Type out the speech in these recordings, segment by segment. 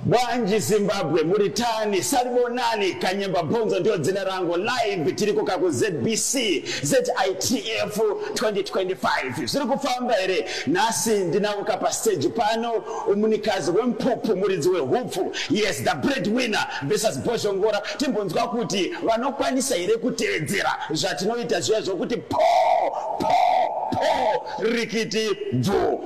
Bwanji Zimbabwe muritani salibonani kanyemba bhonzo ndio dzina rangu live tiri kuka ku ZBC ZITF 2025 zviri kufamba here nhasi ndinauka pa stage pano umunikazi wempupu muridzi wehupfu yes the bread winner versus bhozhongora timbonzwa kuti vanokwanisa here kutevedzera zvatinoita zviya zvokuti po po po rikiti bvuu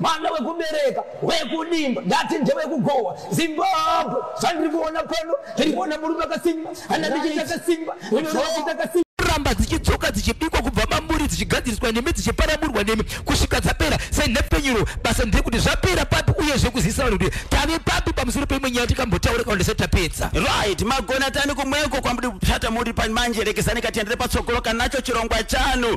mwana wekubereka wekudimba ndati ndewekugowa zimbabwe zvandiri kuona pano ndiri kuona murume akasimba hana ndichiita kasimba inoita kasimba kuramba dzichidzoka dzichibikwa kubva mamburi dzichigadziriswa nemi dzichiparamurwa nemi kusvika dzapera senhepfenyuro basa ndekuti zvapera papi uyezve kuzivisa vanhu kuti tave papi pamusoro peimwe nyaya tikambotaura kana ndisati tapedza right magona tani kumweko kwamudi kupsata muri pamanje rekezani katiendere patsogoro kanacho chirongwa chanu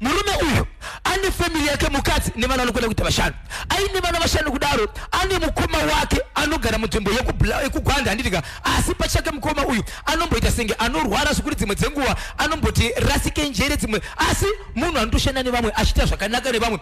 murume uyu ane family yake mukadzi nevana vanokwana kuita vashanu aine vana vashanu kudaro ane mukoma wake anogara munzvimbo yekugwanda handitika asi pachake mukoma uyu anomboita senge anorwara zvikuri dzimwe dzenguva anomboti rasike njere dzimwe asi munhu anotoshanda nevamwe achiita zvakanaka nevamwe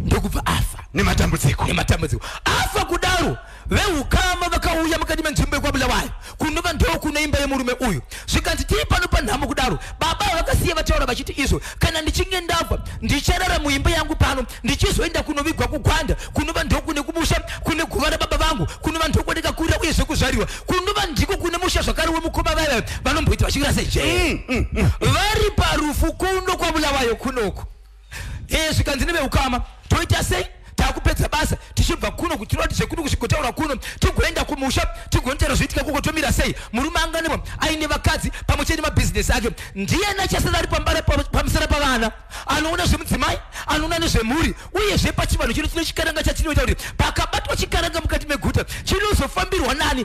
ndokubva afa nematambudziko nematambudziko afa kudaro veukama vakauya mukati menzvimbo yekwabulawayo kunova ndoo kuno imba yemurume uyu zvikanzi tiri pano panhamo kudaro baba vakasiya vataura vachiti izvo kana ndichinge ndabva ndicharara muimba yangu pano ndichizoenda kunovigwa kugwanda kunova ndoo kune kumusha kune guva rababa vangu kunova ndoo kune kakurira uye zvekuzvarirwa kunova ndiko kune musha zvakare wemukoma vaya vanomboita vachirasa jee mm, mm, mm. vari parufu kuno kwabulawayo kunoku ee zvikanzi neveukama toita sei takupedza basa tichibva kuno kuti tirati zvekuno kusvikotaura kuno tigoenda kumusha tigonotaura zvoitika kuko tomira sei murume anganema aine vakadzi pamwe chete nemabhizinesi ake ndiye nachasara ari pambara pamusana pavana anoona zvemudzimai anoona nezvemhuri uye zvepachivanhu chino chino chikaranga chatinoita kuti pakabatwa chikaranga mukati meguta chinozofambirwa nani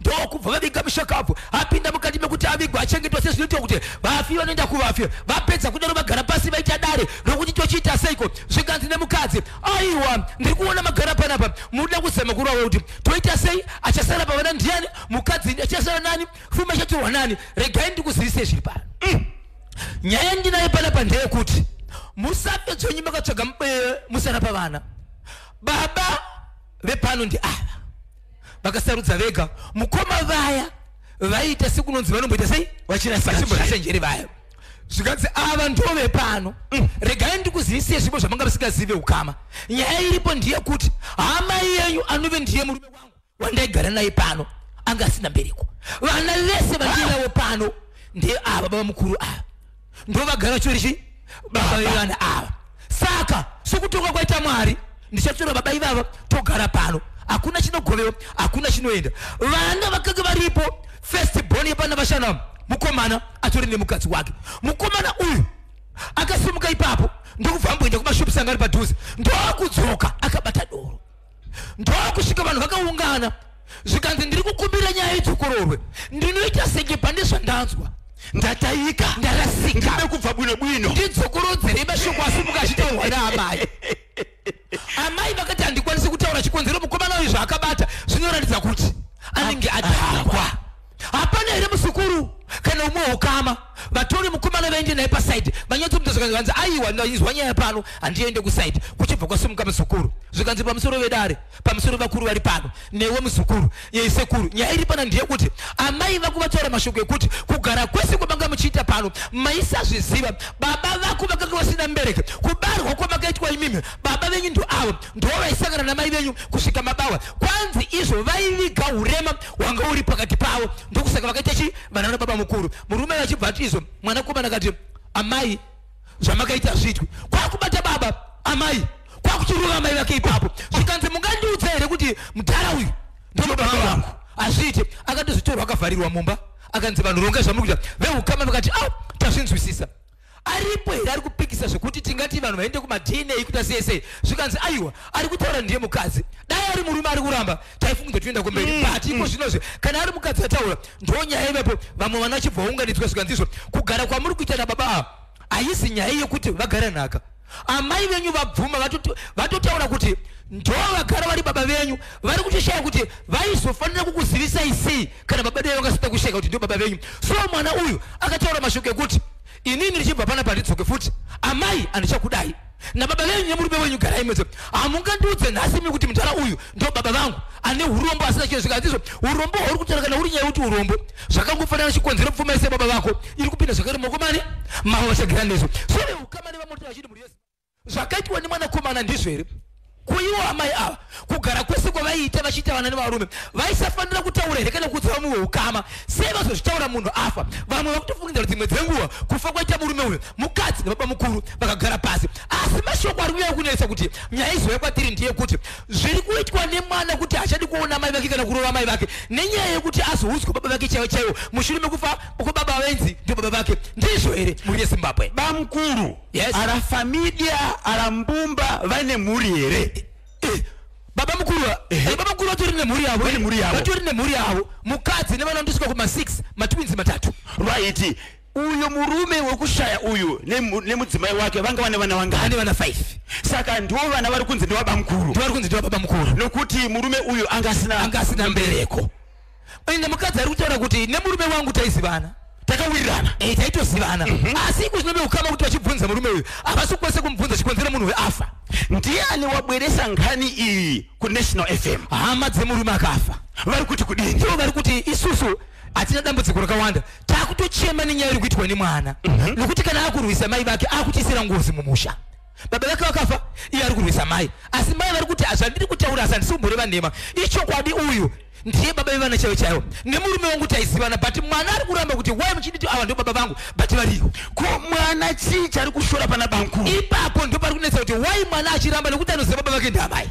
ndokubva vaviga mushakabvu apinda mukati mekuti avigwa achengetwa sezvinoitwa kuti vafi vanoenda kuvafi vapedza kudaro vagara pasi vaita dare rokuti tochiita seiko zvikanzi nemukadzi aiwa ndiri kuona magara panapa munoda kuzama kurova kuti toita sei achasara pavana ndiyani mukadzi achasara nani fuma ichatorwa nani regai ndikuzivisei zviri pano mm. nyaya ndinayo panapa ndeyekuti musafe dzonyi makatsvaga eh, musana pavana baba vepano ndi ava vakasarudza vega mukoma vaya vaiita sekunonzi vanomboita sei vachinasachenjeri vaya zvikanzi ava ndove pano mm. regai ndikuzivisei zvipo zvamanga vasingazive ukama nyaya iripo ndiye kuti hama yenyu anove ndiye murume wangu wandaigara naye pano anga asina mbereko vana vese vandiinavo pano ndiye ava baba mukuru ava ndovagara chori chii baba vevana ava saka sokutonga kwaita mwari ndichatora baba ivava togara pano hakuna chinogovewa hakuna chinoenda vana vakange varipo first born yepana vashana mukomana atori nemukadzi wake mukomana uyu akasimuka ipapo ndokubva amboenda kumashops anga ari padhuze ndokudzoka akabata doro ndokusvika vanhu vakaungana zvikanzi ndiri kukumbira nyaya idzokororwe ndinoita senge pane zvandanzwa ndatayika ndarasika ndide kubva bwino bwino ndidzokorodzerei mashoko asi mukachitaurwa naamai amai vakati handikwanisi kutaura chikonzero mukomana uyu zvaakabata zvinoratidza kuti anenge adhakwa hapana here muzukuru kana umwe ukama vatori mukomana vaende naye pasaidi vanyatso mutezvo kanzi aiwa ndaizwa nyaya pano handiende kusaidi kuchibva kwasimuka muzukuru zvikanzi pamusoro vedare pamusoro vakuru vari pano newe muzukuru yeisekuru nyaya iri pana ndeyekuti amai vako vataura mashoko ekuti kugara kwese kwamanga muchiita pano maisazviziva baba vako vakanga vasina mbereke kubarwa kwamakaitwa imimi baba venyu ndoavo ndoo vaisangana namai venyu kusvika mabawa kwanzi izvo vaiviga urema wanga uri pakati pavo ndokusaka vakaita chi vanana baba mukuru murume vachibva ati izvo mwana komana kati amai zvamakaita zvitwi kwakubata baba amai kwakuchirova amai vake ipapo zvikanzi mungandiudza here kuti mudhara uyu ndinobaba vangu hazviite akatozvitorwa akavharirwa mumba akanzi vanhu rongai zvamukuita veukama vakati a tazvinzwisisa aripo here ari kupikisa zvekuti tingati vanhu vaende kumadna kuita sei sei zvikanzi aiwa ari kutaura ndiye mukadzi dai ari murume ari kuramba taifunga kuti toenda kumberi mm, but iko mm. zvino zve kana ari mukadzi ataura ndo nyaya ivepo vamwe vana chibva vaunganidzwa zvikanzi izvo kugara kwamuri kuita nababa ava haisi nyaya yekuti vagare nhaka amai venyu vabvuma vatotaura kuti ndo vagara vari baba venyu vari kutoshaya kuti vaizofanira kukuzivisai sei kana baba dai vakasita kusheka kuti ndo baba venyu so mwana uyu akataura mashoko ekuti inini ndichibva pana pandidzoke futi amai andichakudai nababa venyu nemurume wenyu garai mese hamungandiudze nhasi mi kuti mudhara uyu ndo baba vangu ane urombo asina chinhu zvikazizvo urombo hwauri kutaura kana uri nyaya yekuti urombo zvakangofanana chikonzero pfuma yese baba vako iri kupinda zvakare maoko mani mavo vachagira nezvo so vangani vamoti vachiti mhuri yezimbabwe zvakaitwa nemwanakomana ndizvo here kuiwo amai ava kugara kwese kwavaiita vachiita vana nevarume vaisafanira kutaura here kana kuudza vamwe weukama sei vazozvitaura munhu afa vamwe vakutofungira dzimwe dzenguva kufa kwaita murume uyo mukadzi nebaba mukuru vakagara pasi asi mashoko ari kunyaya kunetsa kuti nyaya izouya kwatiri ndeyekuti zviri kuitwa nemwana kuti hachadi kuona amai vake kana kurova amai vake nenyaya yekuti azoudzwa baba vake chaivo chaivo mushure mekufa uko baba wenzi ndio baba vake ndizvo here mhuri yezimbabwe bamkuru Yes. ara famidia ara mbumba vaine mhuri here Eh, baba mukuru wa- eh, baba mukuru vatori nemhuri yavo Vane mhuri yavo. vatori nemhuri yavo mukadzi nevana ndosvika kuma 6 matwinzi matatu right uyu murume wekushaya uyu nemu- nemudzimai wake vanga vane vana vangani ane vana 5 saka ndiwo vana vari kunzi ndewabamkuru ndivari kunzi ndiwa baba mukuru nokuti murume uyu anga asina anga asina mbereko ende mukadzi ari kutaura kuti nemurume wangu taizivana takawirirana eh, taitozivana mhm. asi iko zvinobe ukama kuti vachibvunza murume uyu havasi kukwanisa kumubvunza chikonzera munhu uyu afa ndiani wabweresa ngani iyi kunational fm hama dzemurume akafa vari kuti kudini ndivo vari kuti isusu hatina dambudziko rakawanda takutochema nenyaya iri kuitwa nemwana mhm. nokuti kana akurwisa mai vake akutisira ngozi mumusha baba vake vakafa iye ari kurwisa mai asi mai vari kuti zvandiri kutaura asi handisi kumboreva nhema ichokwadi uyu ndiye baba vevana chaivo chaivo nemurume wangu taizivana but mwana ari kuramba kuti wai muchinditi ava ndo baba vangu but variko ko mwana chii chari kushora pana bankuru ipapo ndo pari kunetsa kuti wai mwana achiramba nekuti anoziva baba vake ndiamai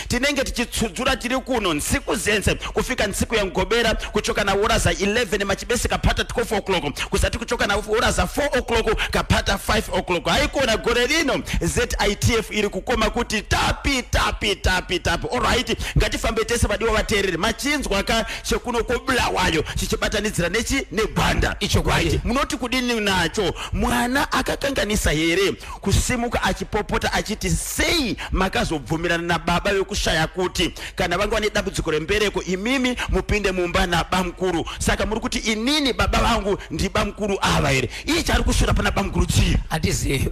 tinenge tichitsudzura tiri kuno nsiku zense kufika nsiku yangobera kuchoka na hora za 11 machibese kapata 12 o'clock kuzati kuchoka na hora za 4 o'clock kapata 5 o'clock haikona gore rino zitf iri kukoma kuti tapi tapi tapi tapi olright ngatifambe tese vadiwa vateereri machinzwa ka chekuno kobulawayo chichibatanidzira nechi negwanda ichokwadi munoti kudini nacho mwana akakanganisa here kusimuka achipopota achiti sei makazobvumirana nababa vekushaya kuti kana vanga vane dambudziko rembereko imimi mupinde mumba nabamukuru saka muri kuti inini baba vangu ndibamukuru ava here iye chaari kushora pana bamukuru chii handizivi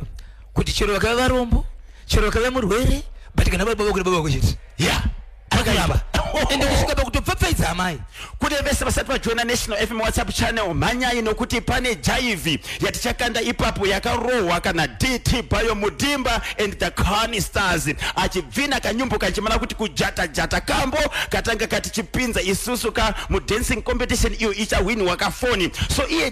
kuti chero vakave varombo chero vakave murwere but kana vari baba kuri baba vako chete ya yeah. akayaba ende kusvika pakutopfapfaidza amai kune vese vasati vajoina national fm whatsapp channel mhanyai nokuti pane jaivi yatichakanda ipapo yakarohwa kana dt bayo mudimba and the cani stars achibvina kanyumbo kachimana kuti kujata jata kambo katanga katichipinza isusu ka mudancing competition iyo ichahwinwa kafoni so iye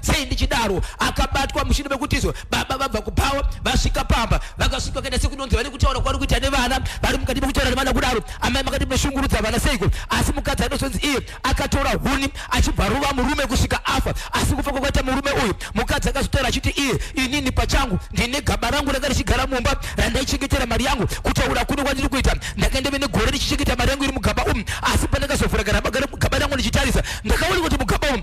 sei ndichidaro akabatwa mushure mekuti izvo baba vabva kubhawa vasvika pamba vakasvika kaita sekunonzi vane kutaura kwavari kuita nevana vari mukati mekutaura nevana kudaro amai makati munoshungurudza vana seiko asi mukadzi anozonzi iye akatora huni achibva ruva murume kusvika afa asi kufa kwakaita murume uyu mukadzi akazotaura achiti iye inini pachangu ndine gaba rangu ranga richigara mumba randaichengetera mari yangu kutaura kuno kwandiri kuita ndakaenda vene gore ndichichengeta mari yangu iri mugaba umu asi pandakazovhura garabagara mugaba rangu ndichitarisa ndakaona kuti mugaba umu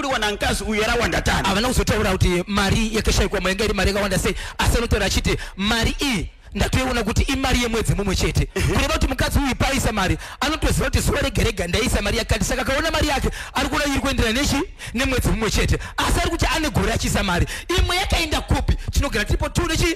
kudiwa namkazi uyu yarawanda tani havana kuzotaura kuti mari yakashaikwa mainga iri mari yakawanda sei asi anotaura achiti mari iyi ndatoiona kuti imari yemwedzi mumwe chete mhm. kureva kuti mukadzi uyu paaisa mari anotoziva kuti zuva regerega ndaisa mari yakati saka akaona mari yake ari kuona iri kuenderana nechi nemwedzi mumwe chete asi ari kuti ane gore achiisa mari imwe yakaenda kupi tinogara tiripo two nechi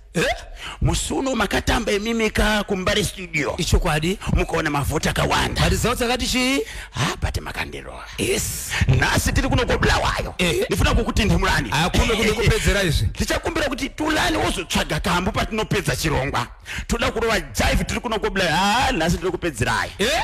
eh? musi uno makatamba imimika kumbare studio ichokwadi mukaona mavhoti akawanda but zao takati chii ha but makandirova yes nhasi tiri kuno kobulawayo eh. ndifuna kukutindimurani akume kuno kupedzera izvi ndichakumbira kuti tulani wozotsvaga kambu patinopedza chirongwa toda kurova jive tiri kuno kobulawayo ha nhasi tiri kupedzerai eh?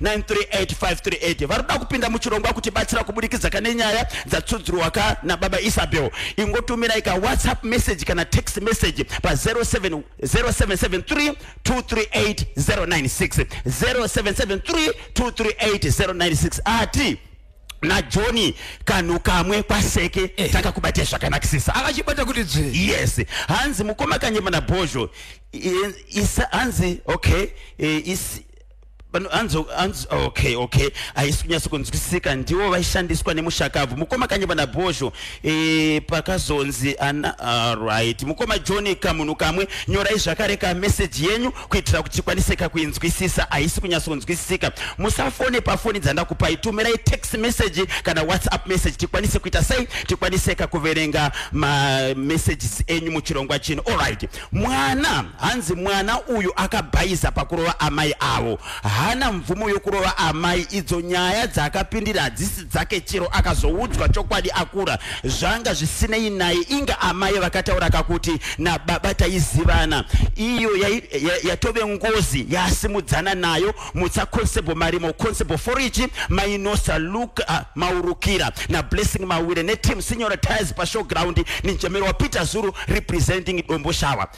938 vari kuda kupinda muchirongwa kuti batsira kubudikidza kane nyaya dzatsudzurwa ka nababa isabel ingotumirai ka whatsapp message kana text message pa 0773 238 096 0773 238 096 ati najoni kanhu kamwe kwaseke eh. takakubatai zvakanakisisa akachibata kuti dzve yes hanzi mukoma kanyemana bhozho hanzi okay eh, anzo anzo okay okay haisi kunyatso kunzwisisika ndiwo vaishandiswa nemushakabvu mukoma kanye vana bhozho e, pakazonzi ana alright mukoma john kamunhu kamwe nyorai zvakare ka message yenyu kuitira kuti tikwanise kakuinzwisisa haisi kunyatso kunzwisisika musafone pafoni dzandakupai tumirai text message kana whatsapp message tikwanise kuita sei tikwanise kakuverenga mamessages enyu muchirongwa chino alright Mwana hanzi mwana uyu akabhaiza pakurova amai avo. Hana mvumo yokurova amai idzo nyaya dzaakapindira hadzisi dzake chero akazoudzwa chokwadi akura zvanga zvisinei naye inga amai vakataura kakuti nababa taizivana iyo yatove ngozi yaasimudzana nayo mutsa constable marimo constable foriji mainosa luke uh, ah, maurukira nablessing mawire neteam sinyora tires pashowground ninjamiro wapeter zuru representing dombo shawa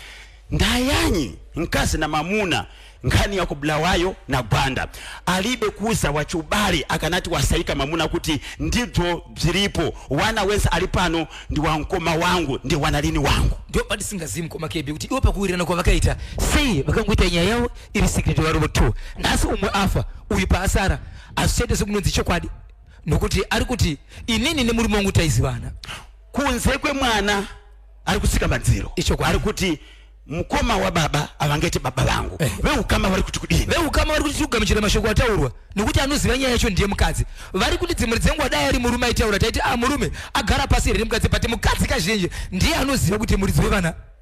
ndayanyi nkazi namamuna nkhani ya kubulawayo na gwanda alibe kuza wachubale akanati wasaika mamuna kuti ndibzo bziripo wana wense ali pano ndi wankoma wangu ndi wanalini wangu ndio pati singazimu koma kebi kuti iwo pakuwirana kwa vakaita sei vakangoita nyaya yawo iri secret varovo two nhasi umwe afa uyu paasara hazvichaite sekunonzi chokwadi nokuti ari kuti inini nemurume wangu taizivana kunze kwemwana ari kusika madziro ichokwadi kuti mukoma wababa avangaite baba vangu eh. veukama vari kuti kudini veukama vari kuti tikugamuchira mashoko ataurwa nokuti anoziva nyaya yacho ndiye mukadzi vari kuti dzimwe dzenguva dai ari murume aitaura taiti a ah, murume agara pasi here nemukadzi but mukadzi kazhinji ndiye anoziva kuti muridzi wevana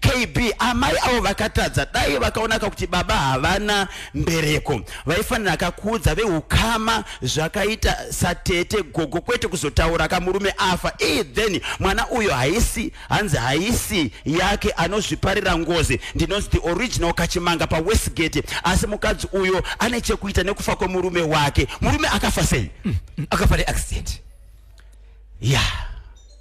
KB amai avo vakatadza dai vakaonaka kuti baba havana mbereko vaifanira akakuudza veukama zvakaita satete gogo kwete kuzotaura kamurume afa ii then mwana uyo haisi hanzi haisi yake anozviparira ngozi ndinonzi the original kachimanga pawestgate asi mukadzi uyo ane chekuita nekufa kwemurume wake murume akafa sei mm, mm, akafa neaccident ya yeah.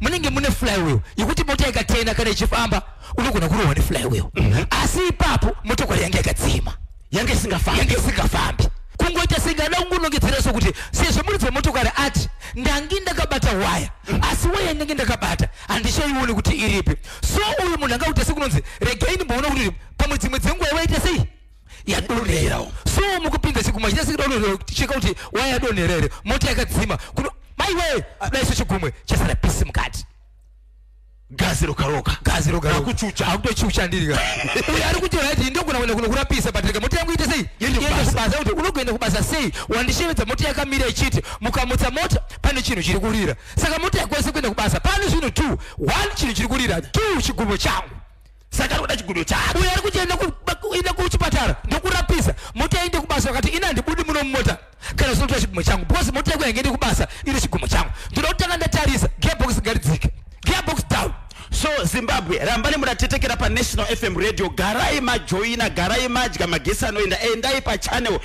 munenge mune flywheel yekuti mota ikatena kana ichifamba unogona kurohwa neflywheel mhm. asi ipapo motokari yange yakadzima yange isingafambi isingafambi kungoita sengada kungonongedzera sokuti sezvo muri dzemotokari ati ndangi ndakabata waya mhm. asi waya ndenge ndakabata handichaione kuti iripi so uyu munhu angakuita sekunonzi regai ndimboona kuti pamwe dzimwe dzenguva ivaita sei yadonherawo so mukupinza chigumwe chitese kudonherawo cheka kuti waya yadonhera here moti yakadzima kuno maiwe kudai so chigumwe chasara pisi mukati gazi rokaroka gazi rokaroka akuchucha akutochucha ndiri ka uyo ari kuti right ndogona kuenda kuno kurapisa but rega moti yangu ite sei yende kubasa kuti unogoenda kubasa sei wandishevedza moti yakamira ichiti mukamutsa mota pane chinhu chiri kurira saka moti yakwese kuenda kubasa pane zvinhu two one chinhu chiri kurira two chigumwe changu saka anoda chigudo chake uyo ari kuchenda kuenda kuchipatara ndokurapisa mota yaende kubasa vakati ini handibudi muno mumota kana zvinotora chigumo changu because mota yangu yangeende kubasa ine chigumo changu ndoda kutanga ndatarisa gearbox ngaridzike gearbox down so zimbabwe rambani munatetekera panational fm radio garai majoina garai madya magesi anoenda endai pachannel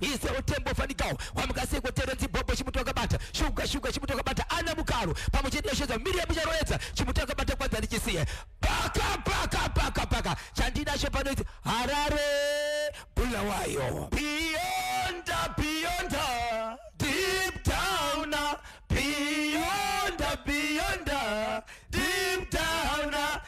ise utembo fanikawo wamuka seko terenzi bhobho chimuti wakabata shuga shuga chimuti wakabata ana mukaro pamwe chete yashedza miriamu charoedza chimuti wakabata kwanza ndichisiye paka paka paka paka chandinacho panoiti harare bulawayo biyonda biyonda deep down biyonda biyonda deep down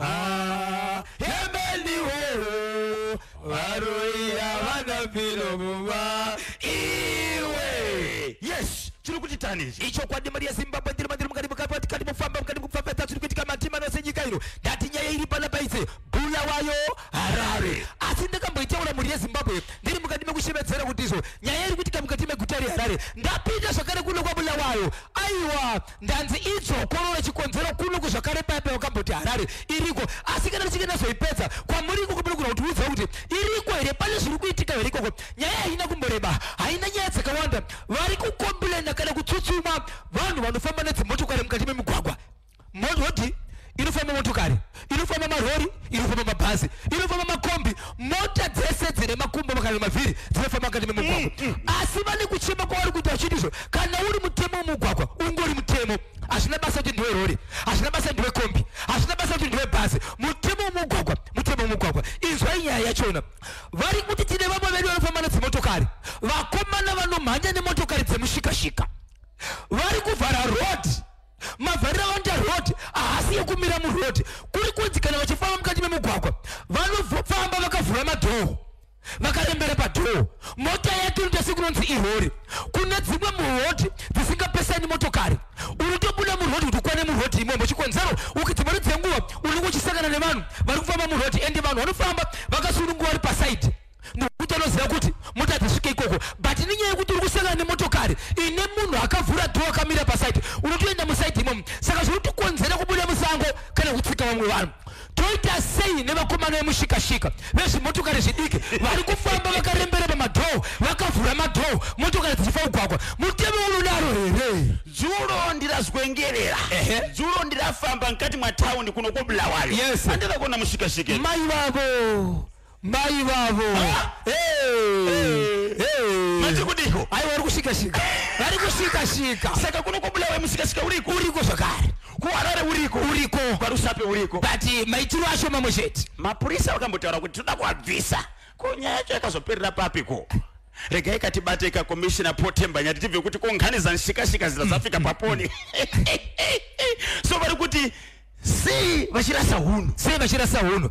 Ah, hemeni wewe varoi havana piro muma iwe yes chiri kuchitani ichi ichokwadi mari yezimbabwe ndiri mandiri mukati mukati kati mufamba mukati mukufambata zviri kuitika matima nose nyika ino ndati nyaya iri pana paise bula wayo harare asi ndakamboitaura mhuri yezimbabwe ndiri mukati mekushevedzera kuti izvo nyaya iri kuitika mukati meguta reharare ndapinda zvakare kuno kwabula wayo aiwa Ndanzi idzo korora chikonzero kuno kuzvakare paipa wakamboti Harare iriko asi kana richinge ndazoipedza kwamuri ikoko panokuda kuti uudza kuti iriko here pane zviri kuitika here ikoko nyaya haina kumboreba haina nyaya dzakawanda vari kukomplena kana kutsutsuma vanhu vanofamba nedzimotokari mukati memigwagwa mototi inofamba motokari inofamba marori inofamba mabhazi inofamba makombi mota dzese dzine makumbo kana mavhiri dzinofamba mukati memugwagwa mm, mm, mm. asi vane kuchema kwavari kuita vachiti izvo kana uri mutemo wemugwagwa ungori mutemo hazvina basa kuti ndiwe rori hazvina basa ndiwe kombi hazvina basa kuti ndiwe bhazi mutemo wemugwagwa mutemo wemugwagwa inzwai nyaya yachona vari kuti tine vamwe vedu vanofamba nedzimotokari vakomana vanomhanya nemotokari dzemushikashika vari kuvhara rodi mavhariro avanoita road haasi yekumira muroad kuri kunzi kana vachifamba mukati memugwagwa vanofamba vakavhura madhoo vakarembera padhoo mota yake inoita sekunonzi irori kune dzimwe murodi dzisingapesani motokari unotobuda murodi kuti ukwane murodi imwembo chikonzero uki dzimwe dzenguva unenge uchisangana nevanhu vari kufamba murodi ende vanhu vanofamba vakasununguva vari pasaidi nokuti anoziva kuti mota dzasvika ikoko but nenyaya yekuti uri kusangana nemotokari ine munhu akavhura dho akamira pasaidi unotoenda musaidi imomo saka zviri kutikonzera kubuda musango kana kutsika vamwe vanhu toita sei nevakomana vemushikashika vezvimotokari zvidiki vari kufamba vakarembera pamadhoo vakavhura madhoo motokari dzichifa kugwagwa mutemo unodaro here dzulo ndirazwengerera dzulo ndirafamba mukati mwataundi kuno kobulawayo yes. andira kuona mushikashike mai vavo Mai vavo. Hey. Hey. Mati kudiko? Aiwa vari kusvika svika. Vari kusvika svika. Saka kuno kwabulawayo musika sika uriko. Uriko zvakare. Kuharare uriko. Uriko. Kwarusape uriko. But eh, maitiro acho mamwe chete. Mapurisa vakambotaura kuti toda kuabvisa. Ko nyaya yacho yakazoperera papi ko? regai katibate ka commissioner potemba nyati tibve kuti konghani zanshikashika zita zafika paponi so vari kuti sei vachirasa hunhu sei vachirasa hunhu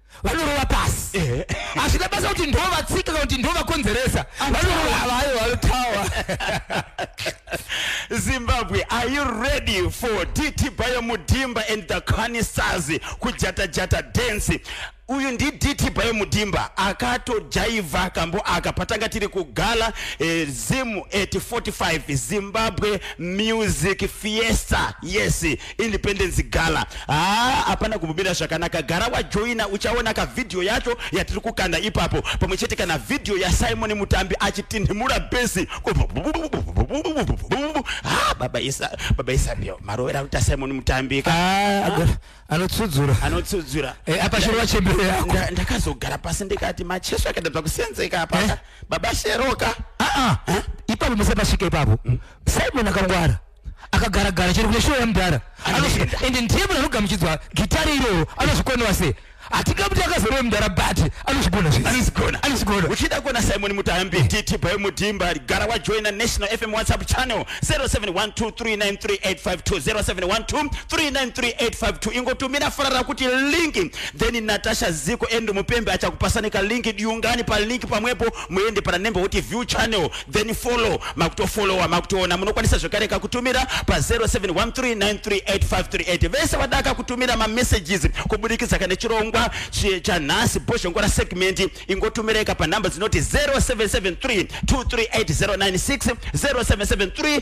vanorova pasi eh. hazvina basa kuti ndovatsika kana kuti ndovakonzeresa vanorova havayo vanotawa zimbabwe are you ready for dt bayo mudimba and the canisazi kujatajata dance uyu ndiditi payo mudimba akatojaivha kambo aka patanga tiri kugala eh, zim at 45 zimbabwe music fiesta yes independence gala haa hapana kumubira zvakanaka gara wajoina uchaona ka video yacho yatiri kukanda ipapo pamwe chete kana video yasimon mutambi achitinhimura besi ha baba isa baba isa ndio marovera kuita simon mutambi ka ah, anotsudzura anotsudzura eh, apa shero wachembere yako ndakazogara pasi ndikati macheso akaita bvakusenzeka apa eh? baba sheroka ah, ah. ipapo musapasvika ipapo hmm? simon akangwara akagara gara chero kune show yamudhara anosvika ende ndiye munhu anogamuchidzwa gitare iroro anozvikonewa sei hatingamuti akazorova mudhara but anozvigona zveanozvigona anozvigona uchida kuona simon mutambi titi bhayo mudhimba gara wajoina national fm whatsapp channel 0712393852 0712393852 ingotumira farara kuti linki then natasha ziko endo mupembe achakupasanika linki diungani palink pamwepo muende pana nembe woti view channel then follow makutofollowa makutoona munokwanisa zvekare kakutumira pa 0713938538 vese vadaka kutumira mamessages kubudikidza kane chirongwa chanhasi bhozhongora segment ingotumireka panhamba dzinoti 0773238096 0773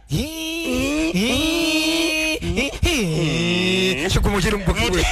chigumo chiri mubuki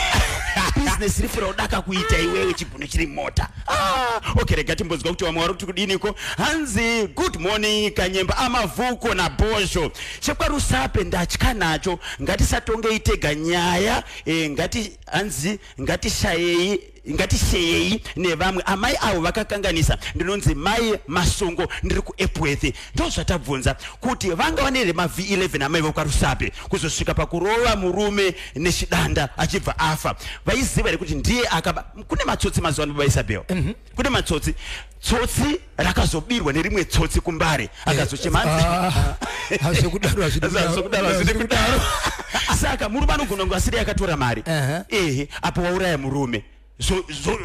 business rifu raudaka kuita iwewe chiguno chiri mota ah, okay rega timbonzwa kuti vamwe vari kuti kudiniko hanzi good morning kanyemba amavhuko nabhozho chekwarusape ndatya nacho ngatisatongei tega nyaya eh, ngati hanzi ngatishayei ngatiseyei nevamwe amai avo vakakanganisa ndinonzi mai masongo ndiri kuepworth ndozvatabvunza kuti vanga vane here mavhi 11 amai vokwarusape kuzosvika pakurova murume nechidanda achibva afa vaiziva here kuti ndiye akaba kune matsotsi mazuva ano baba isabel mm -hmm. kune matsotsi tsotsi rakazobirwa nerimwe tsotsi kumbare eh, akazochema ah, hazvekudaro hazvidi kudaro saka murume anogona kunge asiri akatora mari ehe apo wauraya murume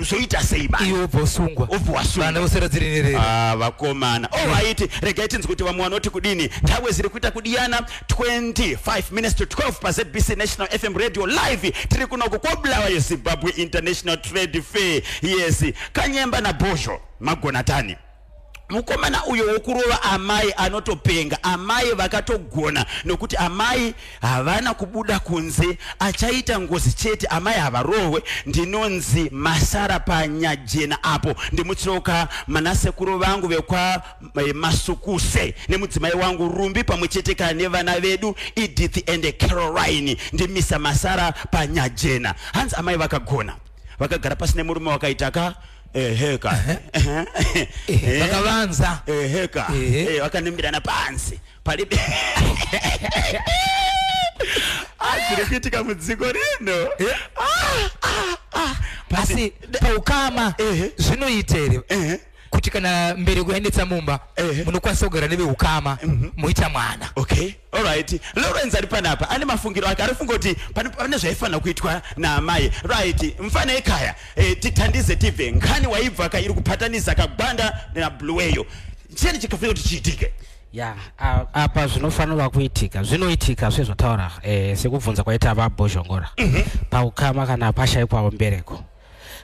zvoita sei maiwe obvosungwa obvowasungvana vosera dziri nerere ah, vakomana ovaiti oh, regai tinzi kuti vamwe vanoti kudini nthawe ziri kuita kudiyana 25 minutes to 12 pazbc national fm radio live tiri kunoko kwobulawa yezimbabwe international trade fair yes kanyemba nabhozho magona tani mukomana uyo wokurova amai anotopenga amai vakatogona nokuti amai havana kubuda kunze achaita ngozi chete amai havarohwe ndinonzi masara panyajena apo ndimutsroka manasekuru vangu vekwamasukuse eh, nemudzimai wangu rumbi pamwe chete kana nevana vedu edith and caroline ndimisa masara panyajena hanzi amai vakagona vakagara pasi nemurume wakaita ka ehe ka Ehe, vakavanza ehe ka Ehe. Eh, vakanembirana pansi pali Ah, zviri kuitika mudziko rino asi paukama Ehe. zvinoita here Ehe. kuti kana mbereko yaendetsa mumba Ehe. munokwanisa kugara neveukama moita mwana okay Alright, Lawrence ari panapa ane mafungiro ake arifunga kuti pane zvaifanira kuitwa naamai. Right, mfana ekaya eh, tithandize tibve nkhani waibva ka iri kuphatanisa kagwanda nabluweyo. Cheni chikafanira kuti chiitike. ya apa zvinofanirwa kuitika zvinoitika sezvataura eh, sekubvunza kwaita vabhozhongora mm -hmm. paukama kana pashaikwawo mbereko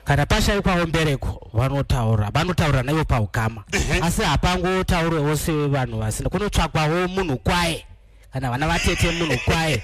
kana pashaikwawo mbereko vanotaura vanotaura naivo paukama asi hapangotaurwewo sevanhu vasina kunotsvakwawo munhu kwaye kana vana vatete munhu kwaye